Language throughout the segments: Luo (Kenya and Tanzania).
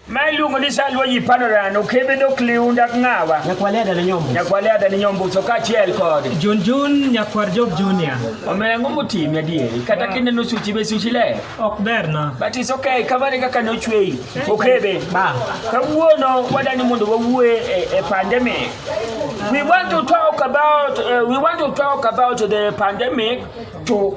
Ma iluongo ni Salwa ji pano rano kebe dok liunda ng'awa. Nyakwale adane nyombo. Nyakwale adane nyombo so kachiel kod. Jun Jun nyakwar Job Junior. Omera ng'o motimi adieri kata kineno suchi be suchi le. Ok ber na. But it's okay kamane kaka ne ochweyi. Okebe. Ba. Kawuono wadani mondo wawuoe e, e pandemic. We want to talk about uh, we want to talk about the pandemic to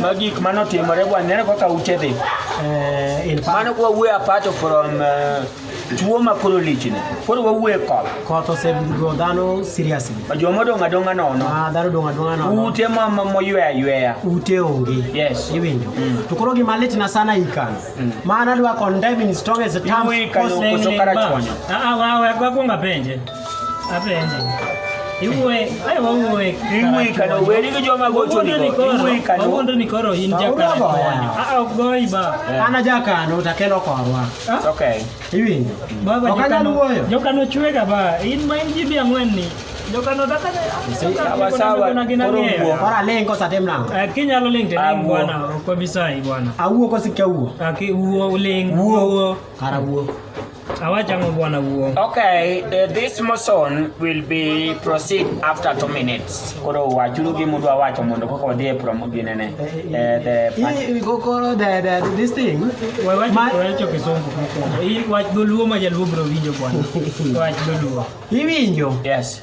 ma gik mane otimore waneno kaka ute dhi eh, mano kwa wuoyo apato from eh, tuo ma koro lichni koro wawuoye koth koth osego dhano seriously joma odong' adong'a nono ah, dhano odong' adong'a nono ute moyweya yweya ute onge yes iwinjo mm. to koro gima litna sana ikano mm. mana dwa condemn in strongest terms ah, ah, wakwonga penje Ana jakano takelo korwa. It's okay. Iwinjo. Baba jokano wuoyo. Jokano chwega ba. In ma in ji bi ang'wen ni. Jokano dakane. Sawa sawa. Ora lengo sa tem lango. Eh kinyalo ling te ling bwana. Kwa bisai bwana. Awuo kosikia wuo. Aki wuo ling. Wuo. Kara wuo. Hawachamo bwana uo. Okay, uh, this motion will be proceed after two minutes. Koro wachuru gi mudu awacho mondo koko odhi e promo gi nene. Eh, the Hii kokoro the, the, this thing. Wawacho Ma- wawacho kisongo kuko. Hii wach doluo ma jaluo bro winjo bwana. Wach doluo. Iwinjo. Yes.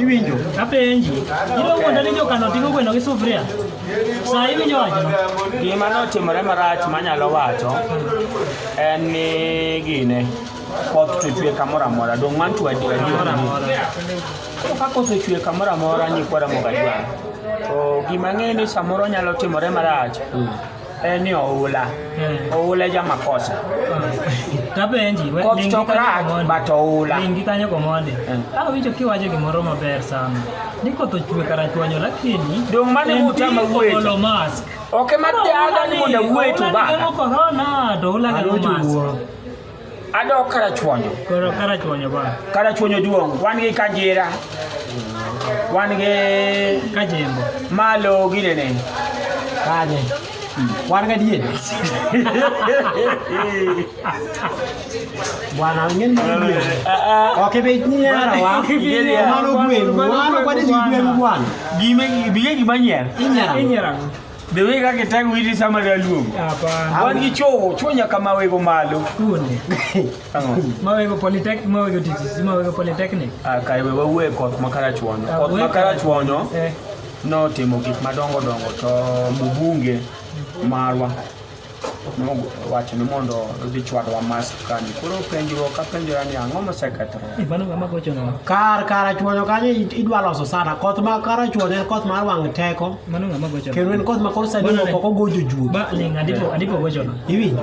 Iwinjo? Apenji. Ibo wuonda ni jokano ting'o gweno gi sufria. Saa iwinjo wachno? Gima notimore marach manyalo wacho en ni gine koth to chwe kamoro amora dong' man to adi adi Koro ka koth ochwe kamoro amora nyikwara moga jwang'. To gima ng'eyo ni samoro nyalo timore marach en ni oula eh. oula ja makosa eh. tapenji koth to crack but oula ingi kanyo komonde eh. awinjo kiwacho gimoro maber sana ni koth ochwe kara chwanyo lakini dong mane mutama wueto mask ok madhi adani mondo wueto bana corona to oula ga mask Adok Karachuonyo. Koro Karachuonyo ba. Karachuonyo duong'. Wan gi Kajira. Wan gi Kajembo. Malo ginene. Kaje. Wan ga diye. Bwana ngeni diye. Oke be nyara wa. Mano gwen. Mano kwa de gwen bwana. Gime biye gimanyera. Inyara. Inyara. The way kaka tangu hili sama ya luongo. Hapana. Wan gi chowo, chowo nyaka mawego malo. Kunde. Ang'o? Mawego polytech, mawego TTC, mawego polytechnic. Ah, kai we wawuoye koth makara chwonyo. Ah, koth makara chwonyo. Eh. Notimo gik madongo dongo to mbunge marwa. nowacho ni mondo odhi chwadwa mask kani koro penjruok apenjora ni ang'o mosekethore kar kar achwoyo kanyo idwa loso sana koth ma kar achwoyo en koth mar wang' teko kendo en koth ma koro sani ok ok ogojo juo iwinjo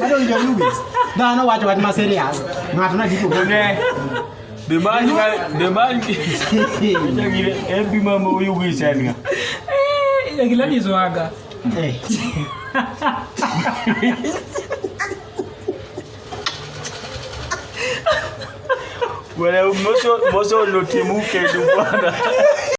Bado ndio Lewis. Dhano wacho wach ma serious. Ng'ato na dipo bone. The man the man. Jagire ebi mama uyu gisanga. Eh, gila ni zwaga. Eh. Wala moso moso lotimuke dubana.